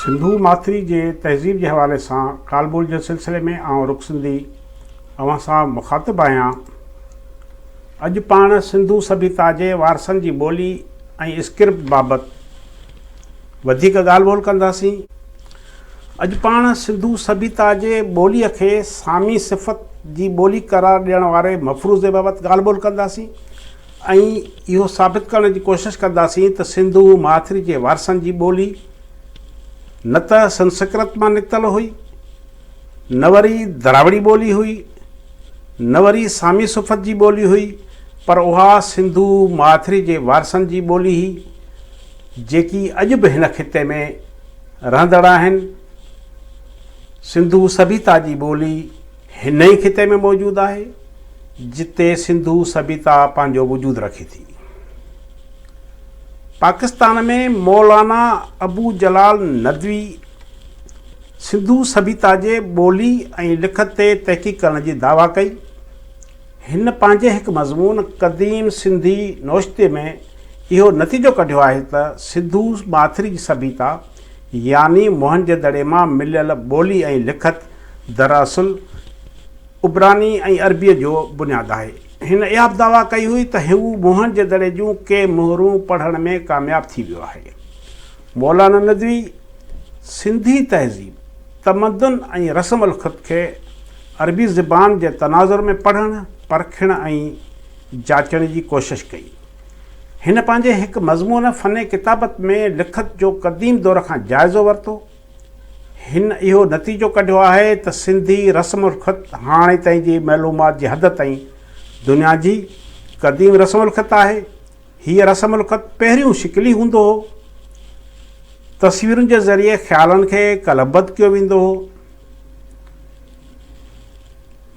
سنڌو ماٿري جي تهذيب جي حوالي سان ڪال ٻول جي سلسلي ۾ آئون رخ سنڌي اوهان سان مخاطب آهيان اڄ پاڻ سنڌو سڀيتا جي وارثن جي ٻولي ۽ اسڪرپٽ بابت وڌيڪ ڳالهه ٻولهه ڪنداسين. اڄ پاڻ سنڌو سڀيتا جي ٻوليء کي سامي صفت جي ٻولي قرار ڏيڻ واري مفروضي بابت ڳالهه ٻولهه ڪنداسين ۽ اهو ثابت ڪرڻ جي ڪوشش ڪنداسين ته سنڌو ماٿري جي وارثن جي ٻولي نه ته سنسڪرت مان نڪتل هئي، نه وري دراوڙي ٻولي هئي، نه وري سامي صفت جي ٻولي هئي، پر اها سنڌو ماٿري جي وارثن جي ٻولي هئي. جيڪي اڄ به هن خطي ۾ رهندڙ آهن. سنڌو سڀيتا جي ٻولي هن ئي خطي ۾ موجود آهي، جتي سنڌو سڀيتا پنهنجو وجود رکي ٿي. پاڪستان ۾ مولانا ابو جلال ندوي سنڌو سڀيتا جي ٻولي ۽ لکت تي تحقيق ڪرڻ جي دعويٰ ڪئي. هن پنهنجي هڪ مضمون قديم سنڌي نوشتي ۾ اهو نتيجو ڪڍيو آهي ته سنڌو ماٿري جي سڀيتا يعني موهنجي دڙي مان مليل ٻولي ۽ لکت دراصل عبراني ۽ عربيء جو بنياد آهي. هن اها به دعويٰ ڪئي هئي ته هو موهن جي دڙي جون ڪي مهرون پڙهڻ ۾ ڪامياب ٿي ويو آهي. مولانا ندوي سنڌي تهذيب، تمدن ۽ رسم الخط کي عربي زبان جي تناظر ۾ پڙهڻ، پرکڻ ۽ جاچڻ جي ڪوشش ڪئي. هن پنهنجي هڪ مضمون فن ڪتابت ۾ لکت جو قديم دور کان جائزو ورتو. هن اهو نتيجو ڪڍيو آهي ته سنڌي رسم الخط هاڻي تائين جي معلومات جي حد تائين دنيا جي قديم رسم الخط آهي. هيء رسم الخط پهريون شڪلي هوندو هو. تصويرن جي ذريعي خيالن کي قلمبد ڪيو ويندو هو.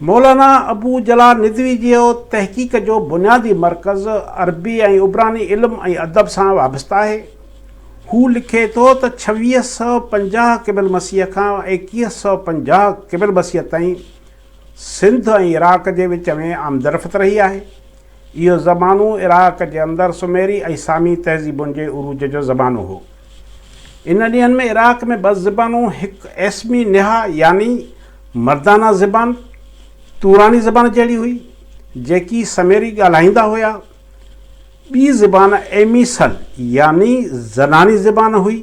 مولانا ابو جلال ندوي جي تحقيق جو بنيادي مرڪز عربي ۽ عبراني علم ۽ ادب سان وابسته آهي. هو لکي ٿو ته ڇويهه سؤ پنجاهه قبل مسيح کان ايڪيهه سؤ پنجاهه قبل مسيح تائين سنڌ ۽ عراق جي وچ ۾ آمدرفت رهي آهي. اهو زمانو عراق جي اندر سميري ۽ سامي تهذيبن جي عروج جو زمانو هو. ان ڏينهن ۾ عراق ۾ ٻه زبانون هڪ ايسمي نها يعني مردانه زبان، توراني زبان جهڙي هئي، جيڪي سميري ڳالهائيندا هيا. ٻي زبان ايمي سل يعني زناني زبان هئي،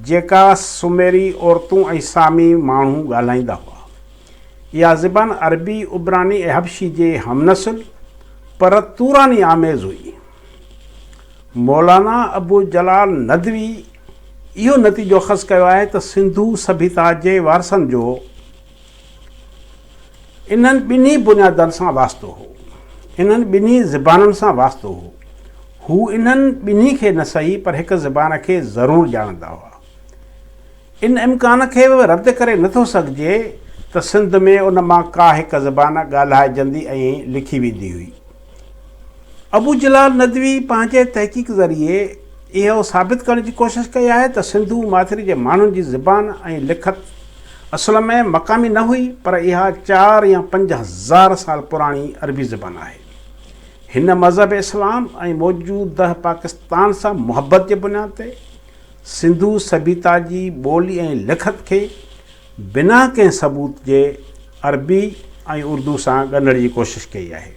جيڪا سميري عورتون ۽ سامي ماڻهو ڳالهائيندا هئا. اها زبان عربي، عبراني ۽ حبشي جي هم نسل پر توراني آميز هئي. مولانا ابو جلال ندوي اهو نتيجو اخذ ڪيو آهي ته سنڌو سڀيتا جي وارثن جو انهن ٻنهي بنيادن سان واسطو هو، انهن ٻنهي زبانن سان واسطو هو. هو انهن ٻنهي کي نه سهي پر هڪ زبان کي ضرور ڄاڻندا هئا. ان امڪان کي به رد ڪري نه ٿو سگهجي ته سنڌ ۾ ان مان ڪا هڪ زبان ڳالهائجندي ۽ لکي ويندي هئي. ابو جلال ندوي پنهنجي تحقيق ذريعي اهو ثابت ڪرڻ جي ڪوشش ڪئي آهي ته سنڌو ماٿري جي ماڻهن جي زبان ۽ لکت اصل ۾ مقامي نه هئي پر اها چار يا پنج هزار سال پراڻي عربي زبان آهي. هن مذهب اسلام ۽ موجوده پاڪستان سان محبت جي بنياد تي، سنڌو سڀيتا جي ٻولي ۽ لکت کي بنا ڪنهن ثبوت جي عربي ۽ اردو سان ڳنڍڻ جي ڪوشش ڪئي آهي.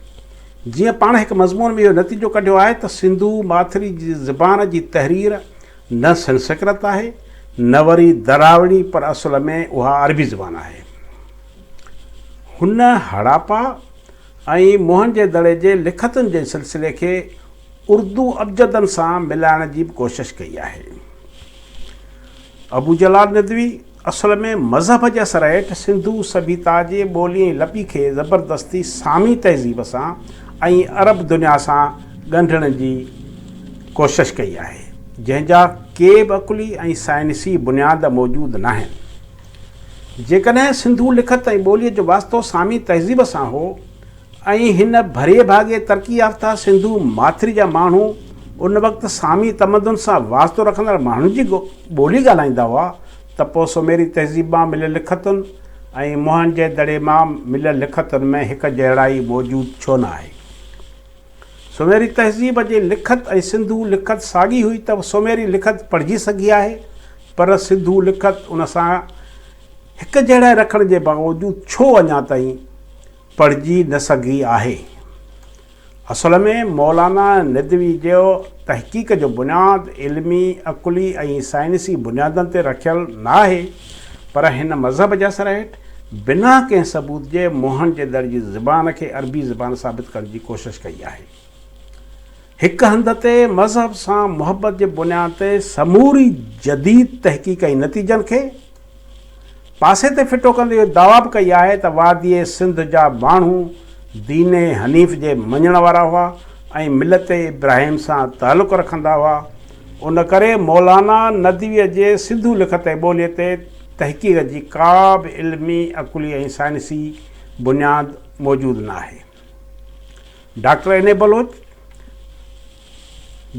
جيئن پاڻ هڪ مضمون ۾ اهو نتيجو ڪڍيو آهي ته سنڌو ماٿري جي زبان جي تحرير نه سنسڪرت آهي نه وري دراوڙي پر اصل ۾ اها عربي زبان آهي. هن هڙاپا ۽ موهن جي دڙي جي لکتن جي سلسلي کي اردو ابجدن سان ملائڻ جي به ڪوشش ڪئي آهي. ابو جلال ندوي اصل ۾ مذهب جي اثر هيٺ سنڌو سڀيتا جي ٻولي ۽ لپي کي زبردستي سامي تهذيب سان ۽ عرب دنيا سان ڳنڍڻ جي ڪوشش ڪئي آهي، جنهن جا ڪي به عقلي ۽ سائنسي بنياد موجود ناهن. جيڪڏهن سنڌو لکت ۽ ٻولي جو واسطو سامي تهذيب سان هو ۽ هن ڀري ڀاڳي ترقي يافته سنڌو ماٿري جا ماڻهو ان وقت سامي تمدن سان واسطو رکندڙ ماڻهن جي ٻولي ڳالهائيندا هئا ته پوء سوميري تهذيب مان مليل لکتن ۽ موهن جي دڙي مان مليل لکتن ۾ هڪ جهڙائي موجود ڇو نه آهي؟ سوميري تهذيب جي لکت ۽ سنڌو لکت ساڳي هئي ته سوميري لکت پڙهجي سگهي آهي پر سنڌو لکت ان سان هڪ جهڙائي رکڻ جي باوجود ڇو اڃا تائين پڙهجي نه سگهي آهي. اصل ۾ مولانا ندوي جي تحقيق جو بنياد علمي، عقلي ۽ سائنسي بنيادن تي رکيل ناهي پر هن مذهب جي اثر هيٺ بنا ڪنهن ثبوت جي موهن جي دڙ جي زبان کي عربي زبان ثابت ڪرڻ جي ڪوشش ڪئي آهي. هڪ هنڌ تي مذهب سان محبت جي بنياد تي سموري جديد تحقيق ۽ نتيجن کي پاسي تي ڦٽو ڪندي اهو دعويٰ به ڪئي آهي ته واديء سنڌ جا ماڻهو دين حنيف جي مڃڻ وارا هئا ۽ ملت ابراهيم سان تعلق رکندا هئا، ان ڪري مولانا ندويء جي سنڌو لکتي ٻوليء تي تحقيق جي ڪا به علمي، عقلي ۽ سائنسي بنياد موجود ناهي. Doctor N A Baloch.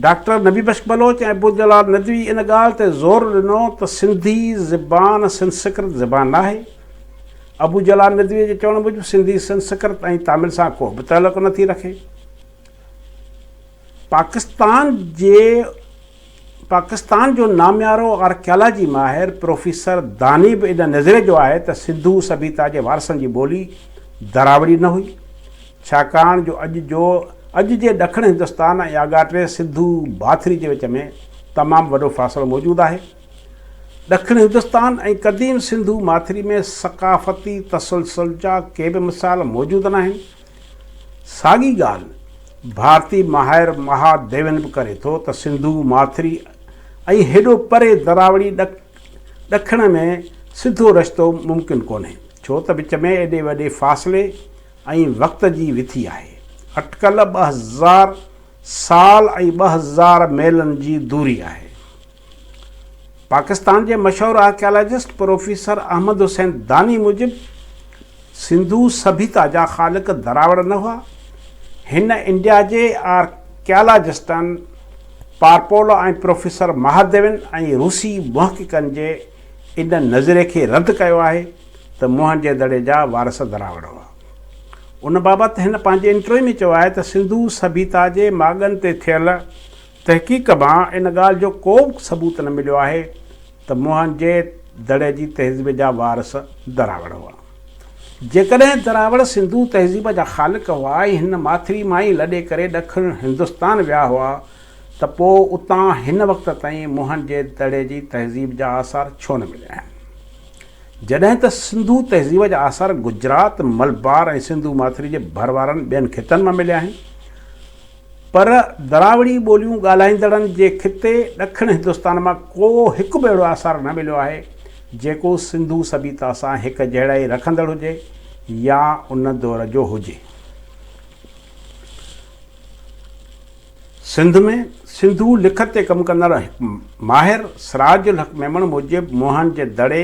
Doctor Nabi Bakhsh Baloch ۽ Abu Jalal Nadvi ان ڳالهه تي زور ڏنو ته سنڌي زبان سنسڪرت زبان ناهي. ابو جلال ندوي جي چوڻ موجب سنڌي سنسڪرت ۽ تامل سان ڪو به تعلق نٿي رکي. پاڪستان جي پاڪستان جو ناميارو آرڪيالاجي ماهر پروفيسر داني به ان نظرئي جو آهي ته سنڌو سڀيتا جي وارثن جي ٻولي دراوڙي نه هئي، ڇاڪاڻ جو اڄ جو اڄ جي ڏکڻ هندستان ۽ آڳاٽي سنڌو ڀاٿري جي وچ ۾ تمام وڏو فاصلو موجود آهي. ڏکڻ هندستان ۽ قديم سنڌو ماٿري ۾ ثقافتي تسلسل جا ڪي به مثال موجود ناهن ساڳي ڳالهه ڀارتي ماهر مها ديون به ڪري ٿو ته سنڌو، ماٿري ۽ هيڏو پري دراوڙي ڏکڻ ۾ سڌو رشتو ممڪن ڪونهي، ڇو ته وچ ۾ ايڏي وڏي فاصلي ۽ وقت جي وٿي آهي. اٽڪل ٻه هزار سال ۽ ٻه هزار ميلن جي دوري آهي. پاڪستان جي مشهور آرڪيالاجسٽ پروفيسر احمد حسين داني موجب سنڌو سڀيتا جا خالق دراوڙ نه هئا. هن انڊيا جي آرڪيالاجسٽن پارپولو ۽ پروفيسر مهاديون ۽ روسي محققن جي ان نظرئي کي رد ڪيو آهي ته موهن جي دڙي جا وارث دراوڙ هئا. ان بابت هن پنهنجي انٽروي ۾ چيو آهي ته سنڌو سڀيتا جي ماڳن تي ٿيل تحقيق ڪبان ان ڳالهه جو ڪو به ثبوت نه مليو آهي ته موهن جي دڙي جي تهذيب جا وارث دراوڙ هئا. جيڪڏهن دراوڙ سنڌو تهذيب جا خالق هئا ۽ هن ماٿري مان ئي لڏي ڪري ڏکڻ هندستان ويا هئا ته پوء اتان هن وقت تائين موهن جي دڙي جي تهذيب جا آثار ڇو نه مليا آهن؟ جڏهن ته سنڌو تهذيب جا آثار گجرات، ملبار ۽ سنڌو ماٿري جي ڀر وارن ٻين خطن مان مليا آهن. پر دراوڙي ٻوليون ڳالهائيندڙن جي خطي ڏکڻ هندستان مان ڪو هڪ به اهڙو آثار نه مليو آهي، جيڪو سنڌو سڀيتا سان هڪجهڙائي رکندڙ هجي يا ان دور جو هجي. سنڌ ۾ سنڌو لکت تي ڪم ڪندڙ هڪ ماهر سراج الحق ميمڻ موجب موهن جي دڙي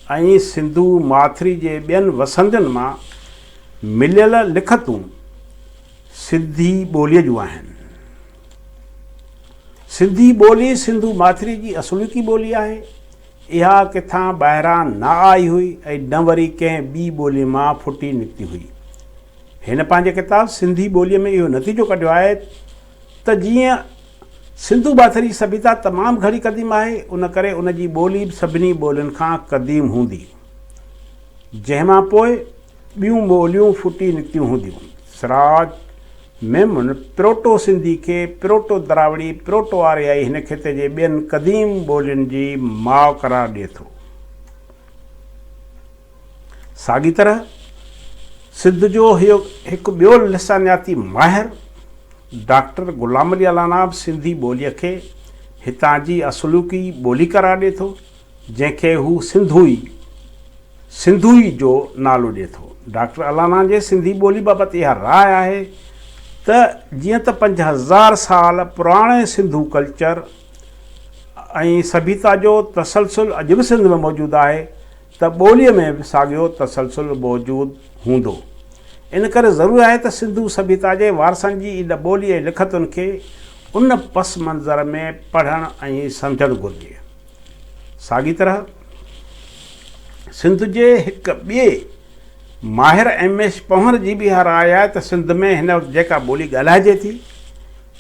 ۽ سنڌو ماٿري جي ٻين وسندين مان مليل لکتون، سنڌي ٻوليء جون آهن. سنڌي ٻولي سنڌو ماٿريء جي اصوليتي ٻولي آهي. اها ڪٿان ٻاهران نه آئي هئي ۽ نه وري ڪنهن ٻي ٻوليء مان ڦٽي نڪتي هئي. هن پنهنجي ڪتاب سنڌي ٻوليء ۾ اهو نتيجو ڪڍيو آهي ته جيئن سنڌو ماٿري جي سڀيتا تمام گهڻي قديم آهي، ان ڪري ان جي ٻولي به سڀني ٻولين کان قديم هوندي. جنهن مان پوء ٻيون ٻوليون ڦٽي نڪتيون هونديون. سراج ميمڻ پروٽو سنڌي کي پروٽو دراوڙي، پروٽو آريائي هن خطي جي ٻين قديم ٻولين جي ماء قرار ڏئي ٿو. ساڳي طرح سنڌ جو هڪ ٻيو لسانياتي ماهر ڊاڪٽر غلام علي العناب سنڌي ٻوليء کي هتان جي اصلوڪي ٻولي قرار ڏئي ٿو. جنهن کي هو سنڌوئي، سنڌوئي جو نالو ڏئي ٿو. ڊاڪٽر الانا جي سنڌي ٻولي بابت اها راء آهي ته جيئن ته پنج هزار سال پراڻي سنڌو ڪلچر ۽ سڀيتا جو تسلسل اڄ به سنڌ ۾ موجود آهي ته ٻوليء ۾ به ساڳيو تسلسل موجود هوندو. ان ڪري ضروري آهي ته سنڌو سڀيتا جي وارثن جي ان ٻولي ۽ لکتن کي ان پس منظر ۾ پڙهڻ ۽ سمجهڻ گهرجي. ساڳي طرح سنڌ جي هڪ ٻئي ماهر ايم ايس پنهور جي به اها راء آهي ته سنڌ ۾ هن وقت جيڪا ٻولي ڳالهائجي ٿي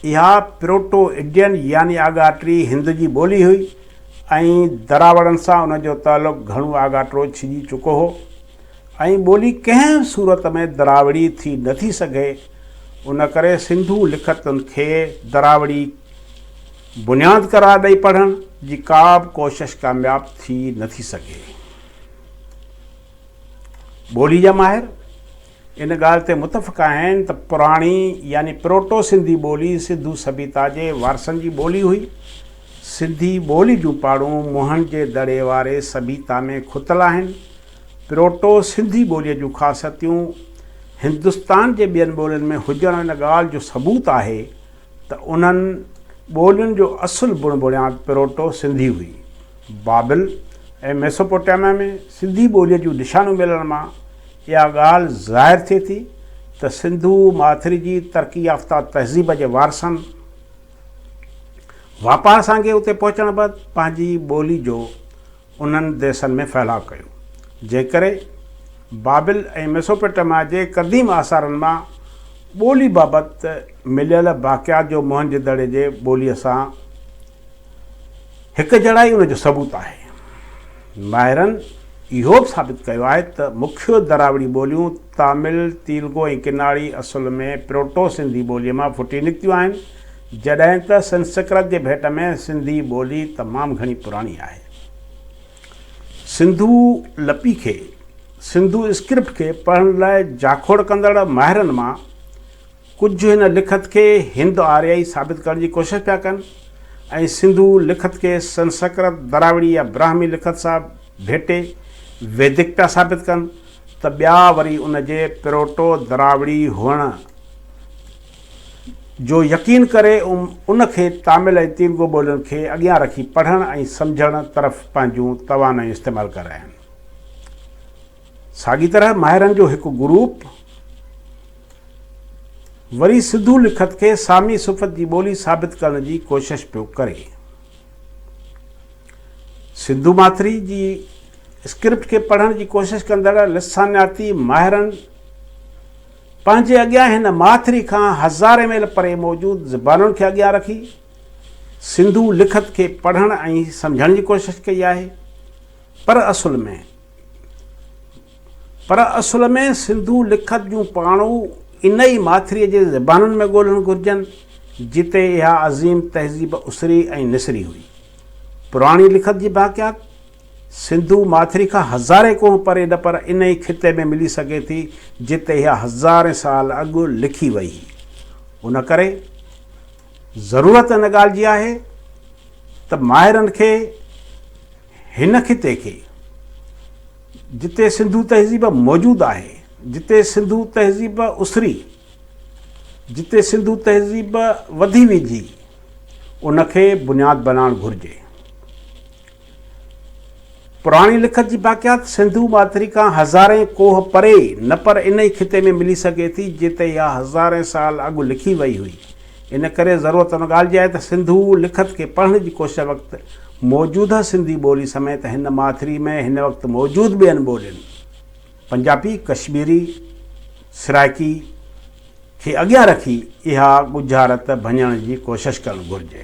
اها پروٽو اڊين يعني آڳاٽري هند جي ٻولي هئي ۽ دراوڙن سان ان جو تعلق گهڻو آڳاٽرو ڇڄي چڪو هو ۽ ٻولي ڪنهن به صورت ۾ دراوڙي ٿي نه ٿي سگهي ان ڪري سنڌو لکتن کي دراوڙي بنياد قرار ڏئي پڙهڻ جي ڪا به ڪوشش ڪامياب ٿي نه ٿي سگهي. ٻوليء جا ماهر ان ڳالهه تي متفق آهن ته پراڻي يعني پروٽو سنڌي ٻولي سنڌو سڀيتا جي وارثن جي ٻولي هئي. سنڌي ٻولي جون پاڙون موهن جي دڙي واري سڀيتا ۾ کتل آهن. پروٽو سنڌي ٻوليء جون خاصيتيون هندستان جي ٻين ٻولين ۾ هجڻ ان ڳالهه جو ثبوت آهي ته انهن ٻولين جو اصل بڻ بڻياد پروٽو سنڌي هئي. بابل ۽ ميسوپوٽيميا ۾ سنڌي ٻوليء جون نشانون ملڻ مان اها ڳالهه ظاهر ٿئي ٿي ته سنڌو ماٿري جي ترقي يافته تهذيب جي وارثن واپار سانگي اتي پهچڻ بعد پنهنجي ٻولي جو انهن ديسن ۾ ڦهلاء ڪيو، جنهن ڪري بابل ۽ ميسوپوٽيميا جي قديم آثارن مان ٻولي بابت مليل باقيات جو موهنجي دڙي جي ٻوليء سان هڪجهڙائي ان جو ثبوت آهي. ماهرن اهو به ثابت ڪيو آهي ته مکيو دراوڙي ٻوليون تامل، تيلگو ۽ ڪناڙي اصل ۾ پروٽو سنڌي ٻوليء مان ڦٽي نڪتيون آهن، جڏهن ته سنسڪرت جي ڀيٽ ۾ سنڌي ٻولي تمام گهڻي پراڻي آهي. سنڌو لپي کي، سنڌو اسڪرپٽ کي، پڙهڻ لاء جاکوڙ ڪندڙ ماهرن مان ڪجهه هن لکت کي هند آريائي ثابت ڪرڻ جي ڪوشش پيا ڪن ۽ سنڌو لکت کي سنسڪرت، دراوڙي يا براهمي لکت سان ڀيٽي ويدڪ پيا ثابت ڪن ته ٻيا وري ان جي پروٽو دراوڙي هئڻ، جو يقين ڪري ان کي تامل ۽ تيلگو ٻولين کي اڳيان رکي پڙهڻ ۽ سمجهڻ طرف پنهنجون توانايون استعمال ڪراين. ساڳي طرح ماهرن جو هڪ گروپ وري سنڌو لکت کي سامي صفت جي ٻولي ثابت ڪرڻ جي ڪوشش پيو ڪري. سنڌو ماٿري جي اسڪرپٽ کي پڙهڻ جي ڪوشش ڪندڙ لسانياتي ماهرن پنهنجي اڳيان هن ماٿري کان هزارين ميل پري موجود زبانن کي اڳيان رکي سنڌو لکت کي پڙهڻ ۽ سمجهڻ جي ڪوشش ڪئي آهي پر اصل ۾ پر اصل ۾ سنڌو لکت جون پاڻو ان ئي ماٿري جي زبانن ۾ ڳولهڻ گهرجن جتي اها عظيم تهذيب اسري ۽ نسري هئي پراڻي لکت جي باقيات سنڌو ماٿري کان هزارين ڪوهه پري نه پر انهي خطي ۾ ملي سگهي ٿي جتي اها هزارين سال اڳ لکي وئي هئي ان ڪري ضرورت ان ڳالهه جي آهي ته ماهرن کي هن خطي کي جتي سنڌو تهذيب موجود آهي جتي سنڌو تهذيب اسري جتي سنڌو تهذيب وڌي ويجهي ان کي بنياد بنائڻ گهرجي. پراڻي لکت جي باقيات سنڌو ماٿري کان هزارين ڪوهه پري نه پر ان ئي خطي ۾ ملي سگهي ٿي جتي اها هزارين سال اڳ لکي وئي هئي. ان ڪري ضرورت ان ڳالهه جي آهي ته سنڌو لکت کي پڙهڻ جي ڪوشش وقت موجوده سنڌي ٻولي سميت هن ماٿري ۾ هن وقت موجود ٻين ٻولين، پنجابي، ڪشميري، سرائڪي، کي اڳيان رکي اها ڳجهارت ڀڃڻ جي ڪوشش ڪرڻ گهرجي.